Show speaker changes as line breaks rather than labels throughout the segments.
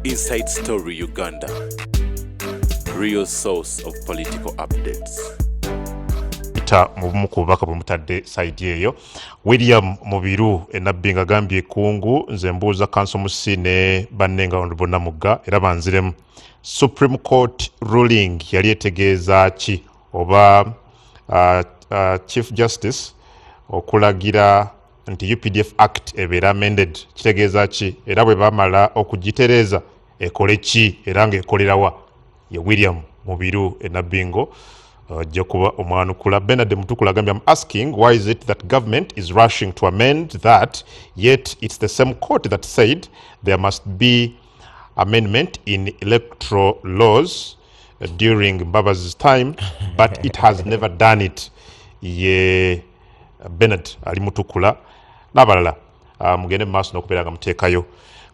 Inside Story Uganda, real source of political updates. Peter mu
bumu ku bubaka bwe mutadde saidi eyo William Mubiru enabbi nga gambye ekungu nze mbuuza kanso musi ne banne nga ono bonna mugga era banziremu Supreme Court ruling yali etegeeza ki oba uh, uh, Chief Justice okulagira nti updf act ebeera amended kitegeeza ki era bwe bamala okugitereeza ekole ki era ng'ekolerawa ye william mubiru enabbingo ajja uh, kuba omwanukula benard mutukula agambye am asking why is it that government is rushing to amend that yet it's the same court that said there must be amendment in electoral laws uh, during mbabazi's time but it has never done it ye yeah. Bernard ali mutukula n'abalala ah, mugende mu maaso n'okubeera nga muteekayo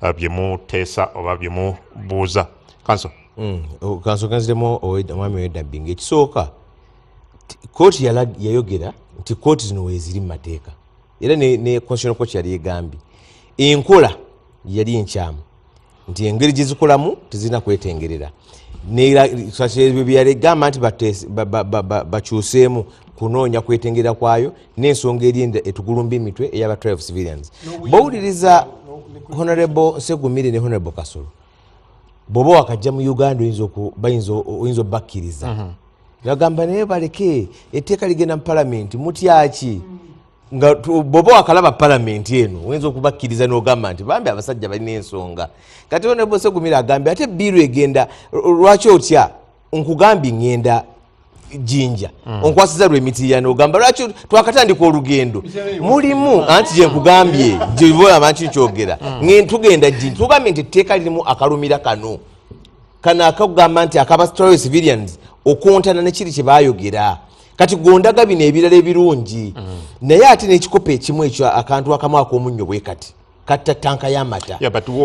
ah, bye muteesa oba bye mubuuza kanso mm, oh, kanso
kanziremu omwami wedabbi ngaekisooka kooti yayogera nti kooti zino weziri mu mateeka era ne constitutional court yali egambye enkola yali enkyamu nti engeri gyezikolamu tezirina kwetengerera byeyalegamba nti bakyuseemu kunoonya kwetengerera kwayo n'ensonga eri etugulumba emitwe eyaba trial of civilians bowuliriza honorable segumire ne honorable kasolo bwoba wakajja mu uganda oyinza obakkiriza mhm. nagamba naye baleke etteeka ligenda mu palamenti mutyaki mm. nga bwoba wakalaba palamenti eno oyinza okubakkiriza nogamba nti bambi abasajja balina ensonga kati onebosegumira agambye ate biiru egenda lwaki otya nkugambye ngenda jinja mm. onkwasiza lwemitirano ogamba lwaki twakatandika olugendo mulimu anti gyenkugambye gyeolaba nti nkyogera mm. ngentugenda jinja tugambye nti etteeka lirimu akalumira kano kano akakugamba nti akaba civilians okontana nekiri kyebayogera kati gondaga bino ebirala ebirungi mm. naye ate nekikopo ekimu ekyo akantu akamu akomunnyo bwe kati katta tanka yamata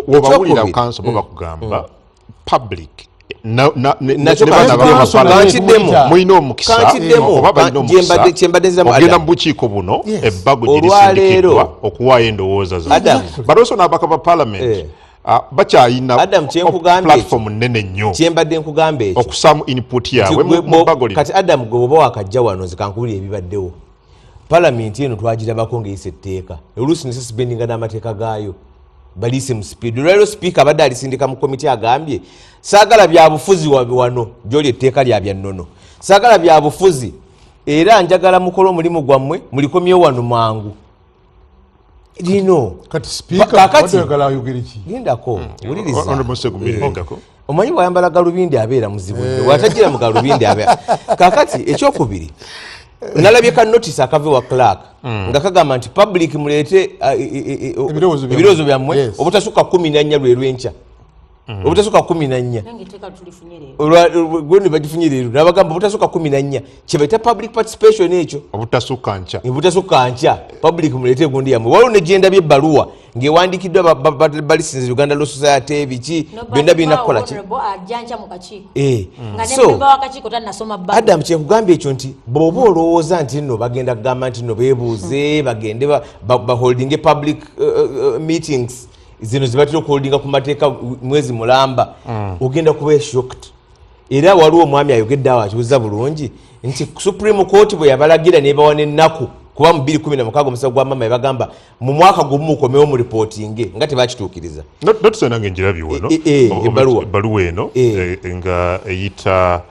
wobawulira
kanso bo mm. bakugamba mm. public nakyembaddezamugenda mubukiiko buno ebbago gyerisindikidwa okuwaayo endowooza za but also nabaka ba parliament eh. Ah, bakyayina adam kyenkugambye platform nene nnyo kyembadde nkugamba ekyo
okusaamu input
yaabwe mubagolira kati adam gwe oba wakajja
wano nze kankubulira ebibaddewo palamenti eno twagirabako ng'eyisa etteeka oluusi nesi sibendinga n'amateeka gaayo baliise mu sipiidi olwaliro sipiika abadde alisindika mu komiti agambye saagala byabufuzi wano gyoli etteeka lya bya nnono saagala byabufuzi era njagala mukole omulimu gwammwe mulikomyewo wano mangu lino kati
sipiikagendako
hmm. wulirizaondako omanyi wayambala galubindi abeera muzibu nyo eh. watagira mu galubindi abeera kakati ekyokubiri nalabye ka notice akava ewa clark hmm. nga kagamba nti public muleete uh, e, e, e, ebirowoozo byammwe obutasukka kumi nanya lwe lwenkya Mm. obutasoka kumi nanya gwene bagifunye leero nabagamba obutasoka kumi nanya kyebaita public participation ekyo obutasoka nkya
obutasoka nkya
public mulete egundi yamwe waliwo negyenda byebaluwa ngewandikiddwa balisinza uganda law society biki byonna birina kukola ki eh. mm. so adam kyekugamba ekyo nti bwoba olowooza nti nno bagenda kugamba nti nno bebuuze bagende baholdinge public uh, uh, uh, meetings zino zibatera okuholdinga ku mateeka mwezi mulamba mm. ogenda kuba eshokt era waliwo omwami ayogedde awo akibuza bulungi nti supreme court bwe yabalagira nebawa nenaku kuba mu 216 omusawo gwa mama ebagamba mu mwaka gumu mukomewo mu ripootinge nga tebakituukiriza notusonange njirabi
wano e, e, e, ebaluwa eno nga eyita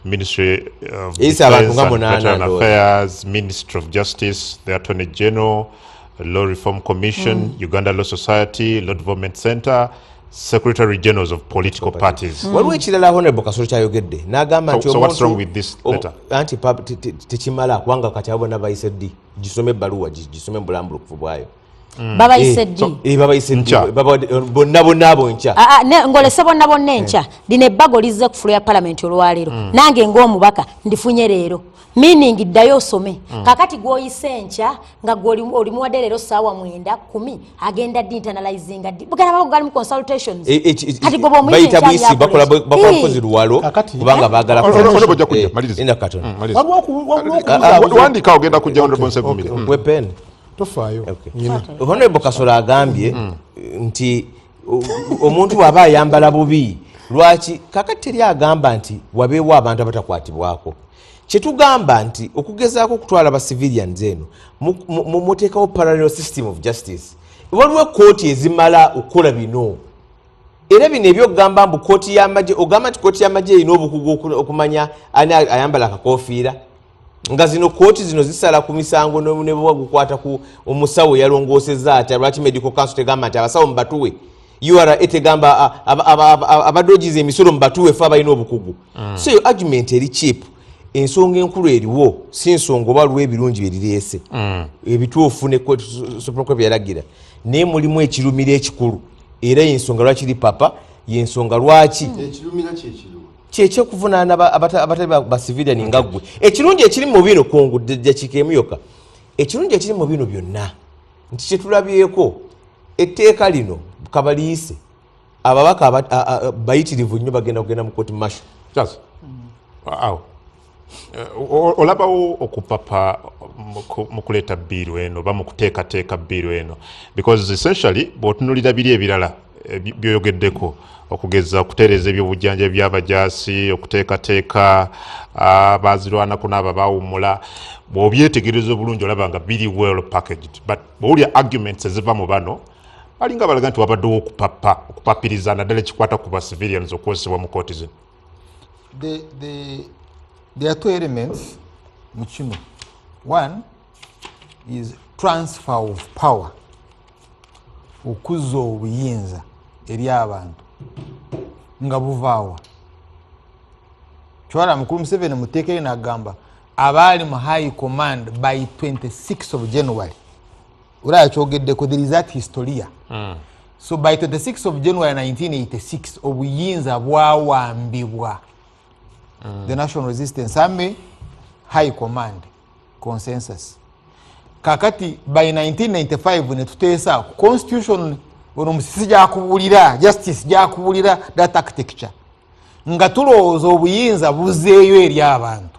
ministry of affairs ministry of justice the attorney general Law Reform Commission, mm. Uganda Law Society, Law Development Center, Secretary Generals of political parties. Mm. Waliwo ekirala Honorable
Kasolo kyayogedde n'agamba nti so what's wrong with this letter?
Anti
tekimala kubanga kati abo nabayise ddi gisome ebbaluwa gisome mu bulambulukufu bwayo. Mm. babayise
eh, ddi eh, babayise ddi eh,
bonna bonna abo nkya ah, ah, ngolese bonna
bonna enkya lino ebbago lizze ku fulo ya palamenti olwaleero mm. nange ng'omubaka ndifunye leero meaning ddayo osome mm. kakati gwoyise enkya nga gwolimuwadde leero saawa mwenda kumi agenda di internalizinga di bugana babo galimu consultations e, e, e, kati gwoba omuyisebayita buyisi bakola
bakozi luwalo kubanga bagala
wandika ogenda kujja honorable nsevumire mm. wepen
tofaayo honorable
kasolo
agambye mm. nti omuntu waba ayambala bubi lwaki kakati teri agamba nti wabeewo abantu abatakwatibwako kyetugamba nti okugezaako okutwala ba civilians eno muteekawo parallel system of justice waliwo ekooti ezimala okukola bino era bino ebyokugamba mbu kooti yamagye ogamba nti kooti yamagye erina obukugu okumanya ani ayambala akakofiira nga zino kooti zino zisala ku misango nebwa gukwata ku omusawo yalongooseza atya lwaki medical council tegamba nti abasawo mubatuwe ura tegamba abadogiza emisolo mubatuwe fe abalina obukugu mm. so yo argument eri chip ensonga enkulu eriwo si nsonga oba lwa ebirungi byerireese mm. ebituufu ne supreme court byeyalagira naye mulimu ekirumiro ekikulu era yensonga lwaki ri papa yensonga lwaki mm.
kyekyokuvunaana
abatali bacivilian nga ggwe ekirungi ekiri mu bino kungu jakikemu yoka ekirungi ekiri mu bino byonna nti kyetulabyeko etteeka lino kabaliise ababaka bayitirivu nnyo bagenda kugenda mu koti masho kyaso mm. awo
Eh, olabawo okupapa mu kuleeta bbiiru eno oba mu kuteekateeka bbiiru eno because essentially bwotunulira biri ebirala eh, byoyogeddeko okugeza okutereeza ebyobujjanja byabajasi okuteekateeka ah, bazirwanako naabo abawumula bwobyetegereza obulungi olaba nga biri well packaged but bwowulya arguments eziva mu bano balinga balaga nti wabaddewo okupapa okupapiriza naddala ekikwata ku ba civilians okukozesebwa mu kooti zino the, the,
there are two elements mu kino one is transfer of power okuzza obuyinza eri abantu nga buvaawa kiwala mukulu museveni muteeka eri nagamba abaali mu high command by 26 of january olaba kyogeddeko there is that historia mm. so by 26 of january 1986 obuyinza bwawambibwa mm. the national resistance army high command consensus kakati by 1995 netuteesa ku constitution ono musisi gyakubulira justice gyakubulira that architecture nga tulowooza obuyinza buzeeyo eri abantu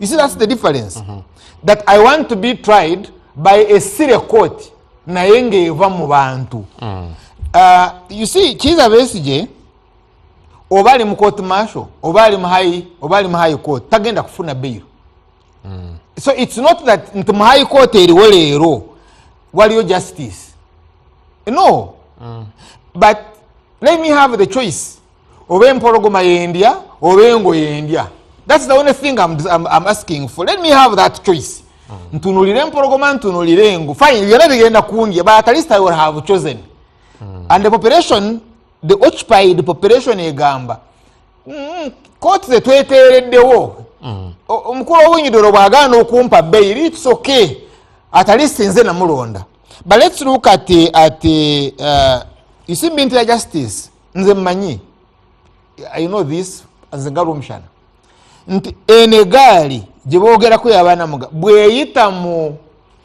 you see that's the difference mm -hmm. that i want to be tried by a sire court naye ngaeva mu bantu mm. uh, you see kiza besije oba ali mu court marshal oba ali mu high oba ali mu high court tagenda kufuna bail mm. so it's not that nti mu high court eriwo leero waliyo justice no mm. but let me have the choice oba empologoma yendya oba engo yendya thats the only thing I'm, I'm, I'm asking for let me have that choice mm. ntunulire empologoma ntunulire engo fine byona bigenda kundya but at least i will have chosen mm. and the population the occupied population egamba mm, kooti zetweteereddewo mm. omukulu owunyidoro bwagaana okumpa beyi lits okay at least nze namulonda but let's look at, at uh, you see minty justice nze mmanyi i know this nze nga lwomshana nti eno egaali gye boogerako yabaana muga bweyita mu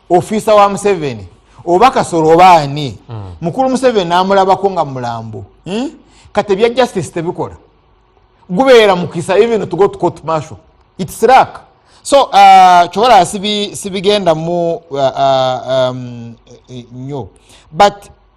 ofiisa wa museveni oba kasolo oba ani hmm. mukulu museveni namulabako nga mulambo hmm? kati ebya justice tebikola gubeera mukisa even to go to court marshal its rak so uh, kyobalaba sibigendamu uh, uh, um, eh, eh, nyo but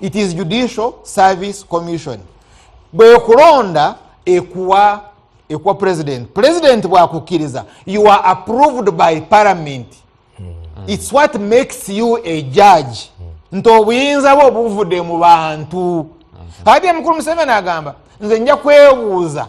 it is judicial service commission bwekulonda ekuwa ekuwa president president bwakukkiriza you are approved by parliament mm. its what makes you a judge mm. nti obuyinza bwe obuvudde mu bantu mm. ati emukulu museveni agamba nze nja kwebuuza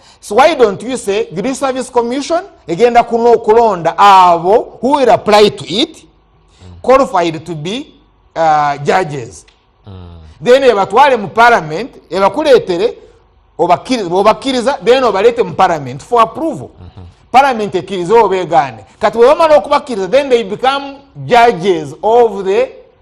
so why don't you say judicial service commission egenda kuna okulonda abo who will apply to it qualified to be uh, judges mm. then ebatwale mu parliament ebakuletere obakkiriza then obalete mu parliament for approval mm -hmm. parliament ekkirize obegaane kati bwebamala okubakkiriza then they become judges of the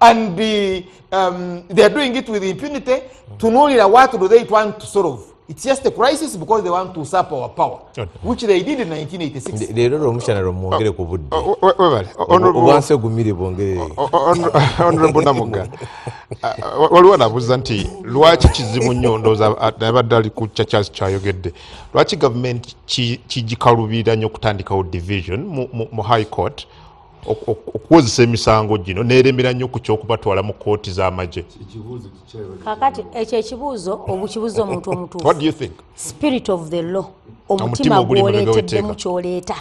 and be, um, they are doing it with impunity tunuulira what do they want to solve it's just a crisis because they want to usurp our power which they did in 1986 leero lwomukyana lwomwongere ku budde obwansi
ogumire bwongere honorable namuga uh, waliwo nabuuza nti lwaki kizibu nnyo ndooza uh, nabadde ali ku kya charles kyayogedde lwaki gavumenti kigikalubira nnyo okutandikawo division mu high court okuwozesa emisango gino neremera nnyo ku kyokubatwala mu kooti z'amagye
kakati ekyo ekibuuzo obukibuuza omuntu omutuufu
spirit of the law
omutima gwoleeteddemu kyoleeta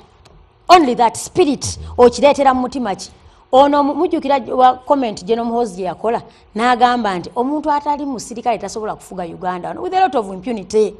only that spirit okireetera mu mutima ki ono mujjukira wa comment gye nomuhoozi gye yakola n'agamba nti omuntu atali musirikale tasobola kufuga uganda with a lot of impunity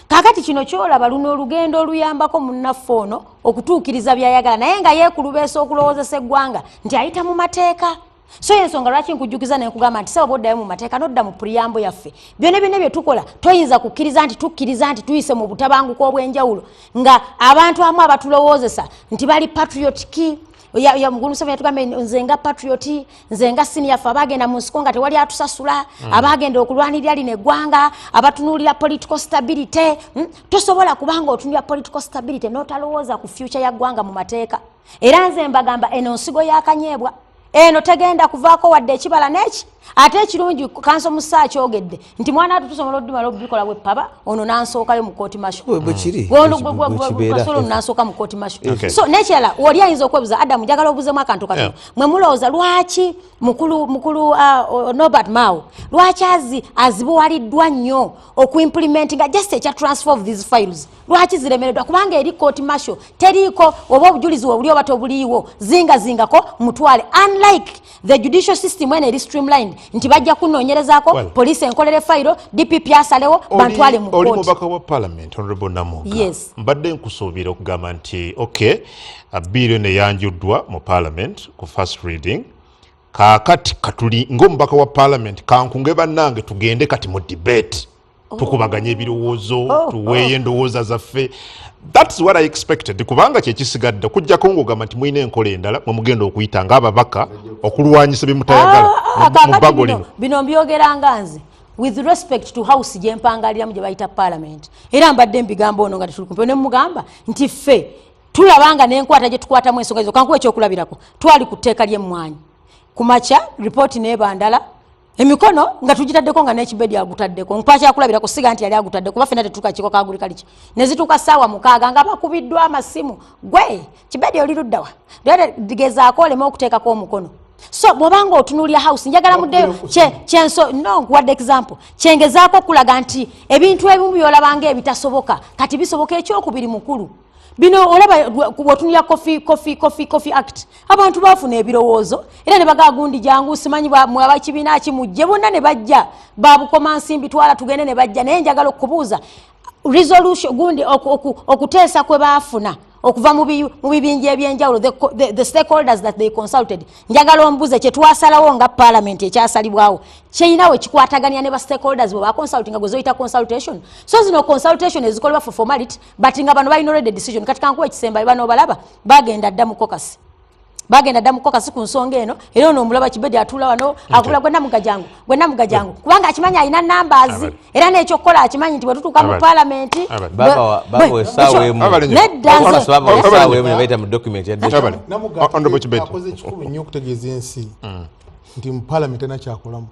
kakati kino kyolaba luno olugendo oluyambako munnaffe ono okutuukiriza byayagala naye nga yeekulubeesa okulowoozesa eggwanga nti ayita mu mateeka so yensonga lwaki nkujjukiza nenkugamba nti saba boddayo mu mateeka nodda mu puriyambo yaffe byona byona bye tukola toyinza kukkiriza nti tukkiriza nti tuyise mu butabanguko obw'enjawulo nga abantu amu abatulowoozesa nti bali patriotiki oyo mugulu museveni yatugamba nze nga patriot nze nga senior fe abagenda mu nsiko nga tewali atusasula mm. abagenda okulwanirira lino eggwanga abatunuulira political stability mm? tosobola kubanga otunulira political stability notalowooza ku future ya ggwanga mu mateeka era nze mbagamba eno nsigo yakanyeebwa eno tegenda kuvaako wadde ekibala neki ate ekirungi kanso musa akyogedde nti mwana watu tusobola odumala obikola bwepaba ono nansookayo mu kooti mashogasolo nansooka mu kooti masho so nekirala oli ayinza okwebuza adamu njagala obuzemu akantu katono mwe mulowooza lwaki mukulu mukulu uh, nobert mao lwaki azi azibuwaliddwa nnyo okuimplementinga just ekya transfer of these files lwaki ziremereddwa kubanga eri kooti masho teriiko oba obujulizi webuli oba tobuliiwo zingazingako mutwale unlike the judicial system eno eri streamlined nti bajja kunoonyerezako well, police enkolere fayiro dpp asalewo bantwale mu oli mubaka wa parliament
honorable namuga yes. mbadde
nkusuubira
okugamba nti ok biiri eno eyanjuddwa mu parliament ku first reading kakati katuli ngaomubaka wa parliament kankunge bannange tugende kati mu debate Oh. tukubaganye ebirowoozo oh, oh. tuweeyo endowooza zaffe thats what i expected kubanga kyekisigadde kujjako ngaogamba nti mulina enkola endala mwemugenda okuyita nga ababaka okulwanyisa byemutayagala ah, ah, mubago lino bino mbyogeranga
nze with respect to house gyempangaliramu gye bayita parliament era mbadde mbigambo ono nga tetulikumpeo ne mugamba nti ffe tulabanga nenkwata gye tukwatamu ensonga zo kankuwa ekyokulabirako twali ku tteeka lyemmwanyi ku makya ripooti nebandala emikono nga tugitaddeko nga nekibedi agutaddeko nkwakyakulabira kusiga nti yali agutadde kuba fena tetuka kiko kaguli kaliki nezituuka saawa mukaaga nga bakubiddwa amasimu gwe kibedi oli luddawa gezaako oleme okuteekako omukono so bwobanga otunulira house njagala muddeyo kyenso no nkuwadde example kyengezaako okulaga nti ebintu ebimu byolabanga ebitasoboka kati bisoboka ekyokubiri mukulu bino olaba wotunira coffee coffee coffee coffee act abantu bafuna ebirowoozo era ne bagagundi jangu simanyi mwaba kibiina ki mujje bonna ne bajja babukoma nsimbi twala tugende ne bajja naye njagala okubuuza resolution gundi okuteesa kwe baafuna okuva mu bibinja ebyenjawulo the stakeholders that they consulted njagala ombuze kyetwasalawo nga parliament ekyasalibwawo kyeyina we kikwatagania ne ba stakeholders bwe baconsultinga gwe zoyita consultation so zino consultation ezikolebwa for formality but nga bano balina already decision kati kankuwa ekisembayo bano obalaba bagenda dda mukokasi bagenda dda mukokasi ku nsonga eno era ono omulaba kibedi atuula wano akula gwe namugajangu gwe namugajangu kubanga akimanyi alina numbers era n'ekyokukola akimanyi nti bwetutuuka mu palamenti neddanzekikulu
nnyo okutegeeza ensi mm. nti mu palamenti nakyakolamo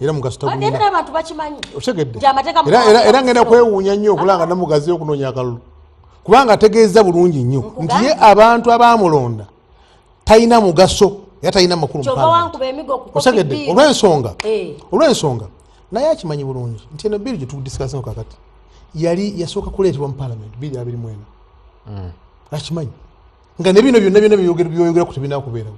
era mugasitabantu
bakimanyi otegeddera
ngenda kwewuunya nnyo okulanga namugaziyo okunoonya akalulu kubanga ategeeza bulungi nnyo nti ye abantu abamulonda talina mugaso era talina makulu osegedde olwensonga eh. olwensonga naye akimanyi bulungi nti eno biri gyetudisikasinga kakati yali yasooka kuleetebwa mu palamenti biri abiri mwena hmm. akimanyi nga nebino byonna byona byoyogera ku tebinakubeerawo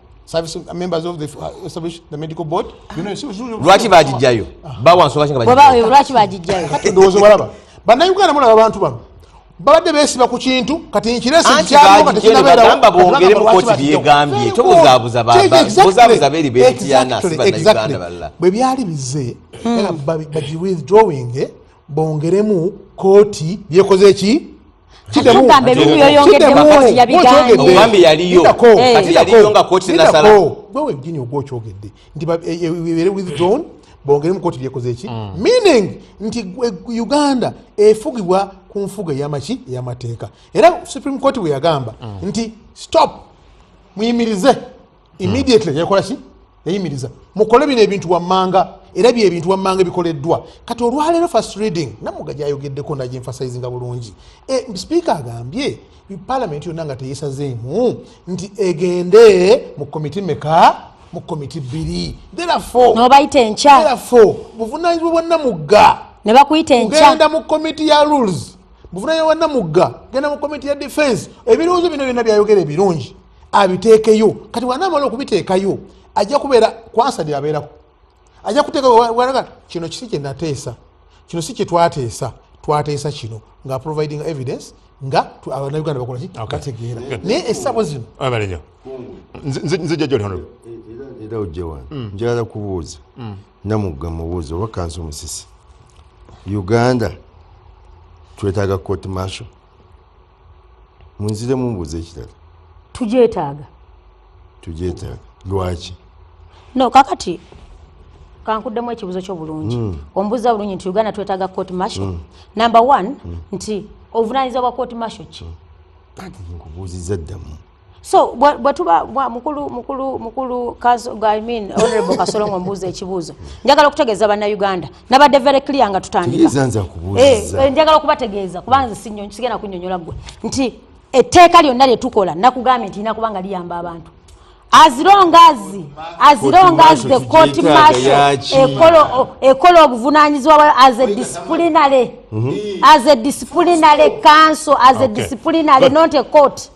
lwaki
bagijjayo bawa nsonga ki lwaki bagijjayo
ndowooza obalaba
bannayuganda mulaba abantu bano babadde besiba ku kintu kati nkiresigamba
bongere mukooti byegambye tobuzabuza bozabuza beri betiyana sibanayuganda balala bwe byali bize
hmm. bagiwithdrawing bongeremu kooti byekoze ki okyogedde nti ebere eh, with zone bongeremu koti lyekozeeki mm. meaning nti eh, uganda efugibwa ku nfuga eyamaki eyamateeka era supreme court bweyagamba mm. nti stop muyimirize immediately hmm. yakola ki yayimiriza mukole bino ebintu wammanga era bye ebintu wammanga ebikoleddwa kati olwaleero first reading namuga gyayogeddeko naye emphasizinga bulungi e, sipiika agambye palamenti yonna nga teyesazeemu nti egende mu komiti meka mu komiti bbiri therefnobayita
enkya therefore buvunanyizibwa bwa
namugga ne bakuyita enkya
genda mu komiti ya
rules buvunanyizibwa bwa namugga genda mu komiti ya defense ebirowoozo bino byonna byayogera ebirungi abiteekeyo kati wanamala okubiteekayo ajja kubeera kwansa lyabeerako ajja kuteekaga kino kisi kyenateesa kino si kyetwateesa twateesa kino nga providing evidence nga abanauganda bakolaki bategeera naye esabo zino era ojja
wano mm.
njagala kubuuza mm. namugga mubuuza oba kansi omusisi uganda twetaaga court marshal munzire mumbuuza ekirala tugyetaaga tugyetaaga lwaki no
kakati kankuddemu ekibuzo kyo bulungi mm. ombuza bulungi nti uganda twetaaga court marshal mm. number one mm. nti obuvunanyizibwa bwa court marshal ki mm. kati
nkubuuziza ddamu so
bwetuba mukulu mukulu mukulu I mean honorable kasolongo mbuuza ekibuuzo njagala okutegeeza bannayuganda nabadde very clear nga tutandika eh, eh, njagala okubategeeza kubanze sigenda kunyonyola gwe nti etteeka lyonna lyetukola nakugambye nti lina kubanga liyamba abantu as long as as long as the court martial ekolo ekolo obuvunanyizwa bwa as a disciplinary mm -hmm. as a disciplinary council as okay. a disciplinary But, not a court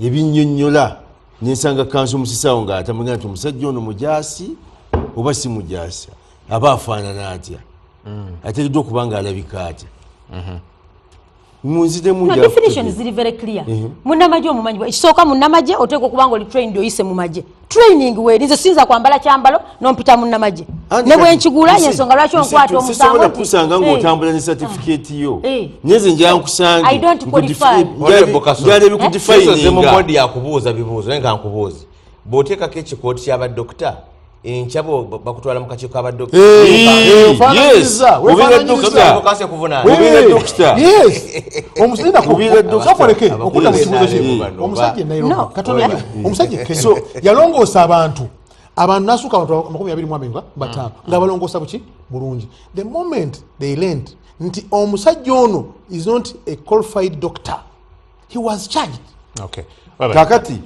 ebinyonyola nensanga kanso musisaawo nga atamanya nti omusajja ono mujaasi oba si mujaasi aba afaanana atya mm. ateekeddwa okuba nga alabika atya mm-hmm.
munzidemudefinition ziri very clear mhm. munamagye omumanyi ekisooka munamagye oteeka okubanga oli trained oyise mumagye training weri nze sinza kwambala kyambalo nompita munnamagye ne bwenkigula yensonga lwaki onkwata omusango nti kusanga nga otambula
ne certificate yo eh. eh. nyeze nja nkusange i don't
qualify njale eh?
bikudifininga nze mu body yakubuuza
bibuuzo naye nga nkubuuzi bwoteekako ekikooti kyaba dokita enkyabo bakutwala mukakiiko abadokitaomusajja
mm. omusajja ekene so yalongoosa abantu abantu nasuka abantu amakumi abiri mwamenga batano mm. nga balongoosa buki bulungi the moment they learned nti omusajja ono is not a qualified doctor he was charged okay
kakati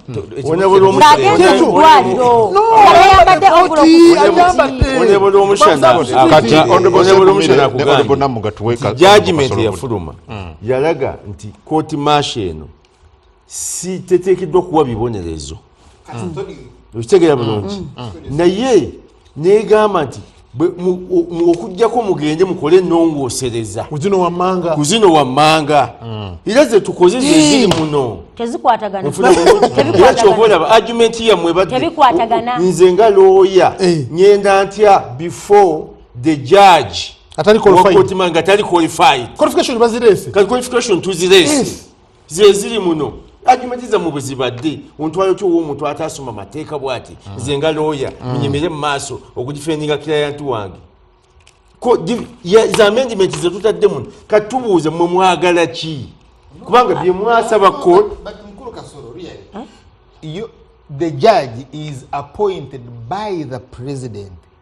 jajimenti yafuluma yalaga nti kooti maasha eno si teteekeddwa okuwa bibonerezo okitegeera bulungi mm, mm, mm. naye negamba nti okujjako mugende mukole enongosereza kuzino wammanga era zetukoze zeziri muno kyobaolaba argument yammwe nze nga looya eh. ngenda ntya before the judge atali qualified nga tali qualified qualification bazirese kati qualification tuzirese zeziri muno argument za mubuziba ddi ontwayo ki owomuntu atasoma mateeka bwati mm. nze nga looya mm. nyimire mu maaso okugifendinga kirayantu wange za amendiment zetutadde muno katubuuze mwe mwagala ki kubanga byemwasaba ko the
judge is appointed by the president